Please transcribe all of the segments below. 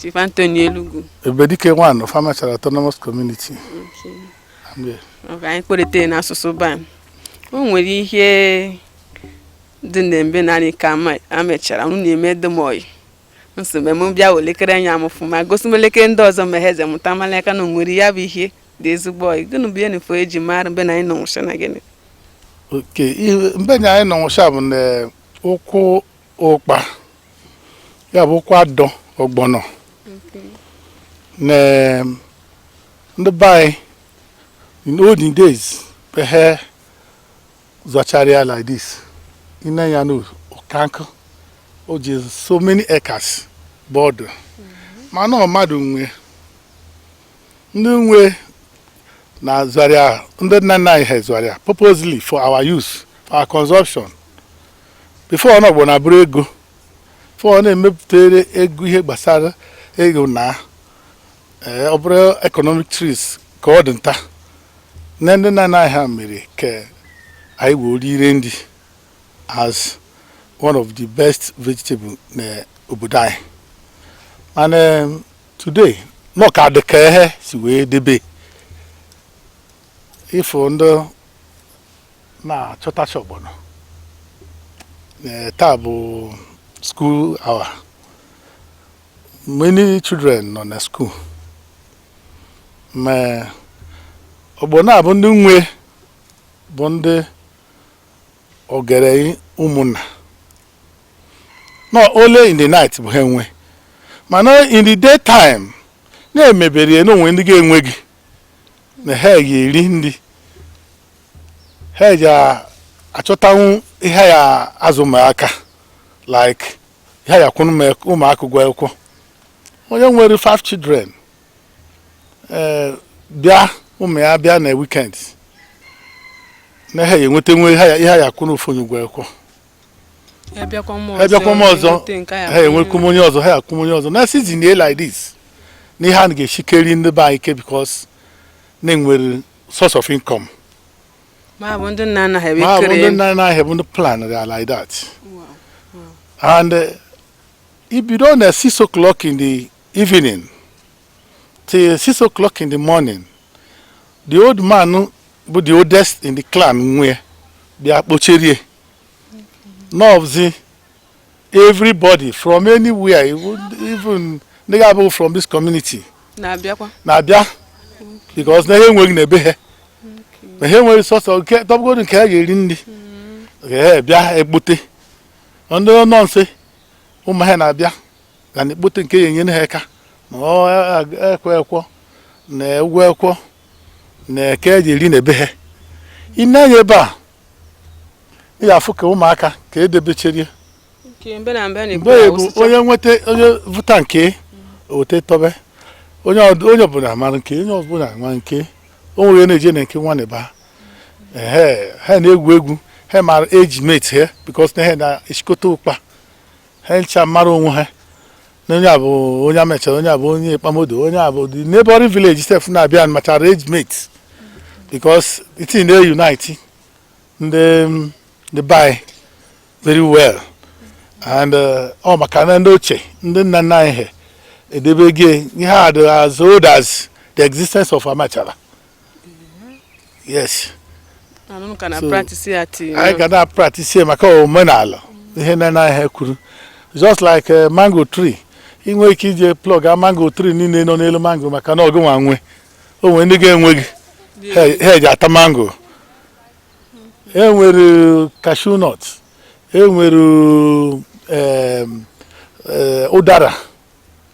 Chief Anthony Elugu. Ebedike one of Amachara Autonomous Community. Okay. Okay, anyị kparịta n'asụsụ ba o nwere ihe dị na mbe narị ka Amachara unu na-eme demoyi nso mgbe m bịa welekere anya m fụma gosi m elekere ndị ọzọ ma ha eze mụta mala aka na o nwere ya bụ ihe dị ezigbo oyi gịnị bụ enifo eji mara mbe na anyị nọ nwụcha na gịnị okay mbe na anyị nọ nwụcha bụ na ukwu ụkpa ya bụ ukwu adọ ọgbọnọ na em, ndị be anyị in olden days bụ ha zọchara ya like this ine ya na ụkankụ o ji so many acres bụ ọ dụ mana ọ mmadụ nwe ndị nwe na zọrọ ya ndị nna nna anyị ha zọrọ ya purposely for our use for our consumption before na ọgbọnọ abụrụ ego before ọ na-emepụtara ego ihe gbasara ego na ee, ọ bụrụ economic trees ka ọ dị nta na ndị nna nna anyị ha mere ka anyị wee rire nri as one of the best vegetable na obodo anyị and em, today na ọ ka dị ka he si wee debe ị fụ ndị na-achọtacha ọgbọnọ taa bụ school hour many children nọ na school ma ọgbọnọ a bụ ndị nwe bụ ndị ogeri ụmụnna not only in the night bụ ha enwe mana in the daytime na-emebere ya na o nwe ndị ga-enwegị na ha ga-eri nri ha ya-achọtanwu ihe ha ya-azụ ụmụaka like ihe ha ya-akwụnụ ụmụaka ụgwọ akwụkwọ onye nwere five children eh, bịa ụmụ ya bịa na weekend na ha ya-enwetanwu ihe ha ya-akwụnụ ofu onye ụgwọ akwụkwọ e bịakwa m ọzọ ha enwekwu m onye ọzọ ha akwụ m onye ọzọ na season ye like this na ihe a ga-echikeri ndị be anyị ike because na e nwere source of income ma bụ ndị nna anyị ha bụ ndị plan ya like that and uh, i bido na 6 o'clock in the evening till 6 o'clock in the morning the old man bụ the oldest in the clan nwe bịa kpocherie na ọ bụzi everybody from anywhere even ndị ga-abụghị from this community na-abịa because na ha enweghị na ebe ha na ha enweghị sọsọ nke tọbụgodu nke ha ga-eri na-abịa ekpote ndị nọ nso ụmụ ha na-abịa ga na ekpote nke ya enyere ha aka na ekwe ekwọ na egwu ekwọ na eke eji eri na ebe ha ị na-anya ebe a ị ga-afụ ka ụmụaka ka edebecherie mgbe bụ onye nweta onye vụta nke o wete tọbe onye ọbụla mara nke onye ọbụla ma nke o nwere na-eje na nke nwanne ba ha na-egwu egwu ha mara age mate ha because na ha na-echikọta ụkpa ha ncha mara onwe ha na onye a bụ onye Amachara onye a bụ onye Ikpamodo onye a bụ the neighboring village sef na-abịa machara age mate because it dey unite ndị ndị be anyị very well and uh, ọ maka na ndị ochie ndị nna nna anyị ha edebego ihe a dị as old as the existence of Amachara yes anyị ga na-apractice ya maka omenala ihe nna anyị ha kwuru just like eh, mango tree ị nwee ike ije pluck a mango tree niile nọ n'elu mango maka na ọ gụ nwa nwe o nwere ndị ga-enweghị ha eji ata mango enwere cashew nut enwere eh, ụdara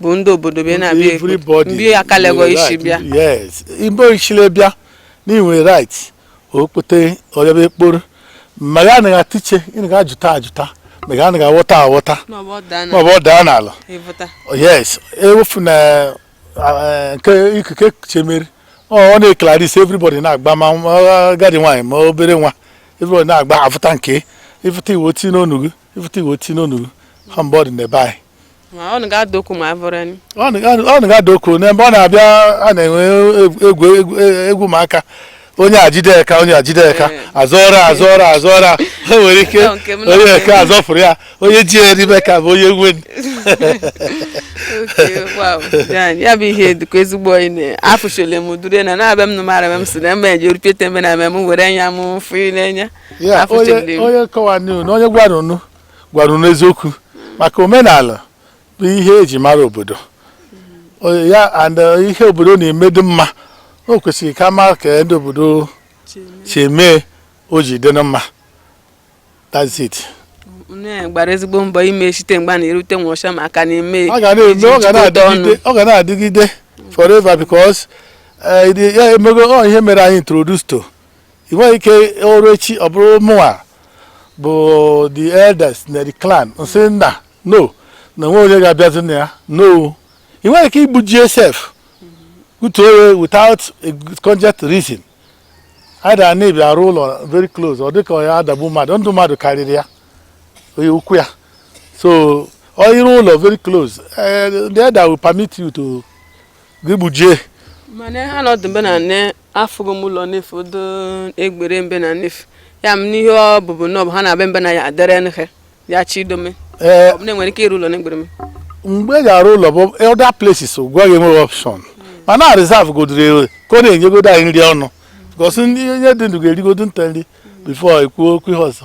bụ ndị obodo bịa na-abịa ekpo Everybody mgbe aka nwere legọ isi right. bịa yes Igbo nchile bịa enwe right o kpote ọ bịaba ekporo ma ya anaghị atiche ị naghị ajụta ajụta ma ya anaghị aghọta aghọta na ọ bụ ọ daa ma ọ na bụ ọ daa n'ala ị vụta yes ewefụ na eh, nke ikuku ekuche mmeri ọ ọ na-eklaris everybody na-agba ma nwa- agadi nwaanyị ma obere nwa everybody na-agba avụta nke ị vụta i wee tie n'ọnụ gị ị vụta i wee tinye unu ha mgbe ọ dị n'ebe anyị ọ naghị ada okwu ma abụrụ anyị ọ naghị ada okwu n'ebe ọ na-abịa a na-enwe egwu egwu ụmụaka onye ajide aka onye ajide aka azọra azọra azọra ha nwere ike onyeke azọfụrụ ya onye ji ya n'ime aka bụ onye nwe ya bụ ihe dịka ezigbo onye na-afụchile m dure na na-abịa m nụ mara m si na eme eji orupịa teme na eme m were anya m fụ n'anya ya Afọ onye Chimdị. onye kọwaara unu na onye gwara unu gwara unu eziokwu maka omenala bụ ihe eji mara obodo O- ya and eh, ihe obodo na-eme dị mma o kwesịrị ka a mara ka ndị obodo si eme o ji dị na mma that's it nne gbara ezigbo mbọ ime site mgbe a na-erute ngwụcha ma a ka na-eme ọ ga na-eme ọ ga jikọta ọnụ. na-adịgide ọ ga na-adịgide forever because eh, ya emego ọ ihe mere anyị introduce to ị nweghị ike o ruo echi ọ bụrụ mụnwa bụ the eldest na the clan nsị nna no na nwe onye ga-abịazi na ya no ị nweghị ike igbuji osisi without a cogent reason either na ibi arụ ụlọ very close ọ dịka ya adagbu mmadụ ndụ mmadụ karịrị ya onye ukwu ya so ọ ịrụ ụlọ very close eh, the elder will permit you to gị gbujie mana ha nọdụ mbe na nne afụgo m ụlọ n'efu do egbere mbe na n'efu ya m n'ihe ọ bụbụ na ọ bụ ha na-abịa mbe na ya adere nhe ya chi idome ee ọ bụ na enwere ike ịrụ ụlọ n'egbere m mgbe ị ga-arụ ụlọ bụ other places gwa gị enweghị option mana a reserve godoro ka ọ na-enyegodo anyị nri ọnụ because onye dị ndụ ga-erigodo nta nri before ekwuo okwu ihe ọzọ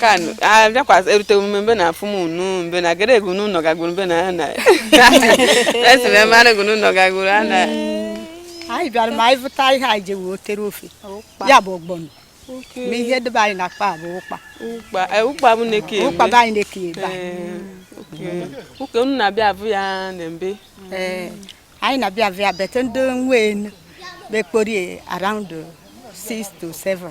kan abịakwasị erute omume mbe na afụ m unu mbe na jere egwu n'ụlọ gagoro mbe na ya na esi m ebe anaghị n'ụlọ gagoro a na anyị bịara ma anyị bụta ihe anyị ji wee tere ofe ya bụ ọgbọnọ ma ihe ndị be anyị na-akpọ bụ ụkpa ụkpa bụ na-eke ụkpa bụ anyị na-eke ebe a okay unu na-abịa abụ ya na mbe anyị na-abịa abụ ya bete ndị nwe enu bekporie around 6 to 7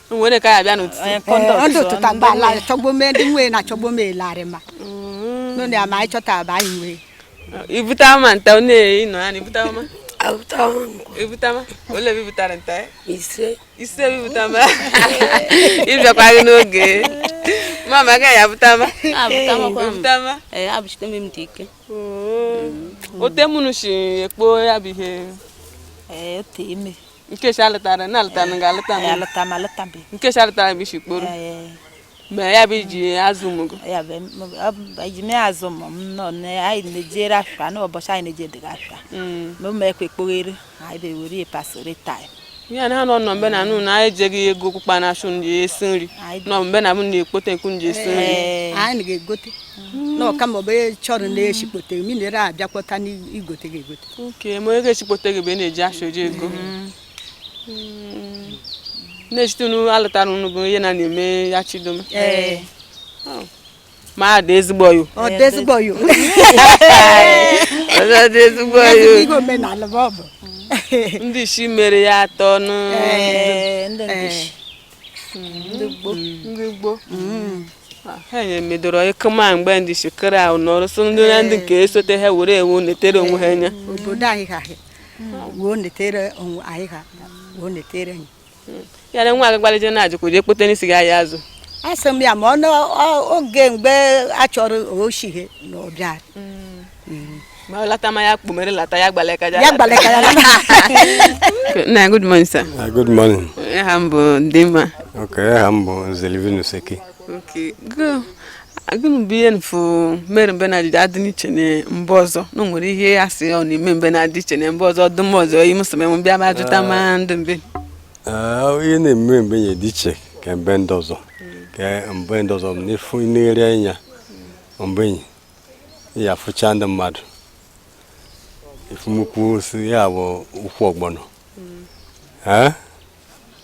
nwere ka ya bịa n'ụtụtụ Ee, ọ dị ụtụta mba ala chọgbo mee ndị nwee na chọgbo mee larị ma nụ na ya ma anyị chọta aba anyị nwee ibute ama nta ọ na-eyi nọ ya na ibute ama ibute ama ole ebe ibutara nta ya ise ise ebe ibute ama ịbịakwa gị n'oge mama agaghị abụta ama ibute ama ee abụchite m dị ike ote mụnụ si ekpo ya bụ ihe ee ote ime nkechi alụtara na alụtara ga alụta m alụta m alụta m nkechi alụtara m isi kporo ma ya bụ iji azụ ụmụ gị ji mee azụ ụmụ m nọ anyị na-ejere afịa n'ụbọchị anyị na-eje dịga afịa ma ụmụ ekwe kpoghere anyị bewere ya pasịrị taịm ya na ha nọ nọ mbe na anụ na anyị ejeghị ego okpukpa na achụ nji esi nri nọ mbe na m na-ekpote ekwu nji esi nri anyị ga-egote na ọkama ọbụ chọrọ na-echikpote minere abịakpọta n'igote ga-egote okay ma ego echikpote gị bụ ị na-eji afịa oji ego Mm. na-echite unu alụtara unu bụ ihe na na-eme ya chidoma Ee. Oh. ma a dị ezigbo yo ọ dị ezigbo yo Ọ dị ezigbo yo ezigbo ihe omenala bụ ọ bụ ndị isi mere ya atọ nụ Ee, ndị Ee. ndị gboo ha nye medoro ịkụma mgbe ndị shekere ahụ nọrọ so ndị na ndị nke esote ha were ewu netere onwe ha anya obodo anyị ha wuo netere onwe anyị ha wuo netere anyị ya na nwa agbalịje na-ajụkwa jee kpote n'isi ga ya azụ asị m ya ma ọ n'oge mgbe a chọrọ oshighe na ọbịa ma lata ma ya kpumere lata ya gbaleka ya ya gbaleka ya na good morning sir uh, good morning aha m bụ Ndịmma okay aha m bụ Nze Livinus Eke okay gụnụ bụ ihe mfu mere mbe na adịdị adị iche na mbe ọzọ na nwere ihe ya sị ọ na-eme mbe na adị iche na mbe ọzọ ọdụm ọzọ yi mụsịrị m bịa ma jụta ma ah. ndụ mbe ah, ihe na-eme mbe nye dị iche ka mbe ndị ọzọ ka mbe ndị ọzọ na-efu n'ere anya mbe enyi ya fụcha ndị mmadụ ị fụ ukwu osisi a bụ ukwu ọgbọnọ hmm.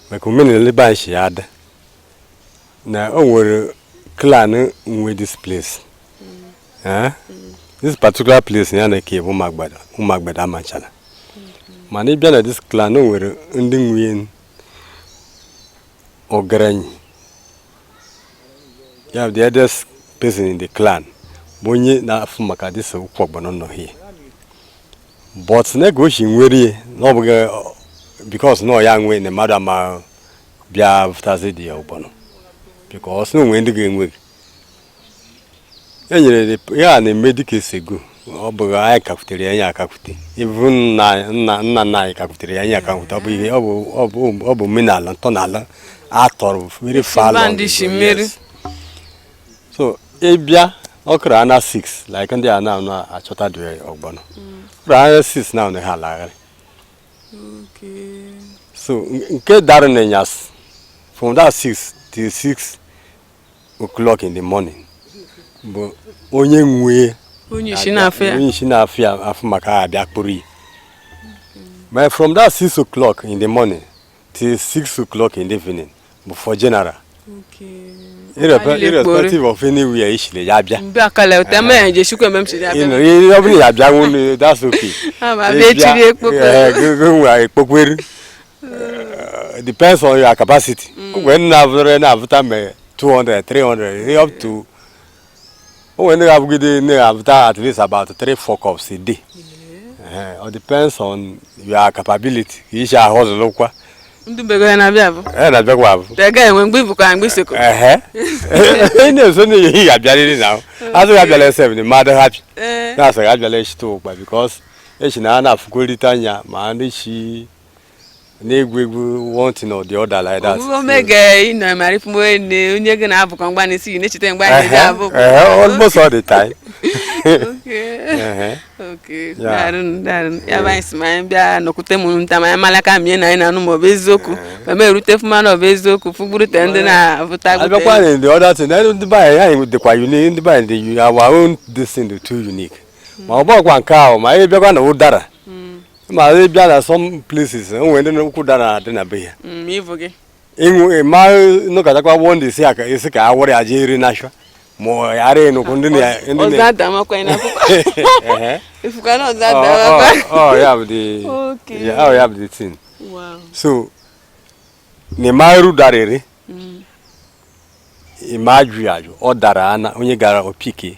maka omenala ebe anyị si ya adị na o nwere clan nwe this place hmm. this particular place ya na ke bụ Ụmụagbedo Amachala mana ị bịa na this clan o nwere ndị nwe onye ọgerenyi ya bụ the eldest person in the clan bụ onye na-afụ maka this ukwu ọgbọnọ nọ here but nke o shi nwere na ọ bụghị because na ọ ya nwe na mmadụ ama bịa vụtazi the ọgbọnọ because na o nwe ndị ga-enweghị e nyere ya na-eme dịka esego ọ bụ anyị kakwutere ya anyị akakwute even nna nna nna nna anyị kakwutere ya anyị akakwute ọ bụ ihe ọ bụ ọ bụ ọ bụ omenala ntọala atọrọ very far long ago, yes. so ị bịa ọ kụrụ around 6 like ndị a na-achọta the ọgbọnọ ọ kụrụ around 6 now ha alagharị so nke dara na ịnyasị from that 6 till 6 o'clock in the morning bụ onye nwe onye isi na-afụ ya onye isi na-afụ ya afụ maka ha abịa kpụrụ ya but from that six o'clock in the morning till six o'clock in the evening bụ for general irrespective of anywhere i shile ya bịa ọ bụrụ ya bịa nwụ that's okay nwe ekpokweru Uh, depends on your capacity. Mm. When na avụrụ na avụta me 200, 300, up to when na abụgide na avụta at least about 3 4 cups a day. Yeah. Uh, it depends on your capability. I shi a-hustle kwa. Ndị bego ya na-abịa abụ. Eh na-abịa kwa abụ. Tega enwe mgbe ibu ka mgbe isoko. Eh. Ị na-eso na ihe ya bịarịrị na. Azụ ya bịara 7 the mother happy. Eh. Na-asị ya bịara echi to kwa because echi na a na-afụkorịta anya ma ndị chi na-egwu egwu one thing or the other like that. Omume ome ga ị nọ mara ifu onye na- onye gị na-abụkọ mgba na isi na-echeta mgba na ị ga-abụ. Ehe, ehe, almost all the time. Okay. Ehe. Okay. Ya. Daarụ, daarụ. Ya bụ anyị sị ma anyị bịa nọkwute m nta ma anyị marakwa ma ihe na anyị na-anụ ma ọ bụ eziokwu ma m erute fụma na ọ bụ eziokwu fụgburute ndị na-abụta abịakwa gbute na the other thing na ndị be anyị anyị dịkwa unique ndị be anyị dị uni- our own this thing dị too unique ma ọ bụkwa nke ahụ ma anyị bịakwa na ụdara ma ị bịa na some places e nwere ndị ukwu ụdara adị na be ya mm, ịṅụ ịma nụkọtakwa wụọ ndị isi aka isi ka awụrụ ya jee iri nashwa ma ara enukwu ndị na ya bụ the thing so na ị ma-ere ụdara ere mm. ị ma-aghọ ya aghọ ọ dara ana onye gara o pick-ie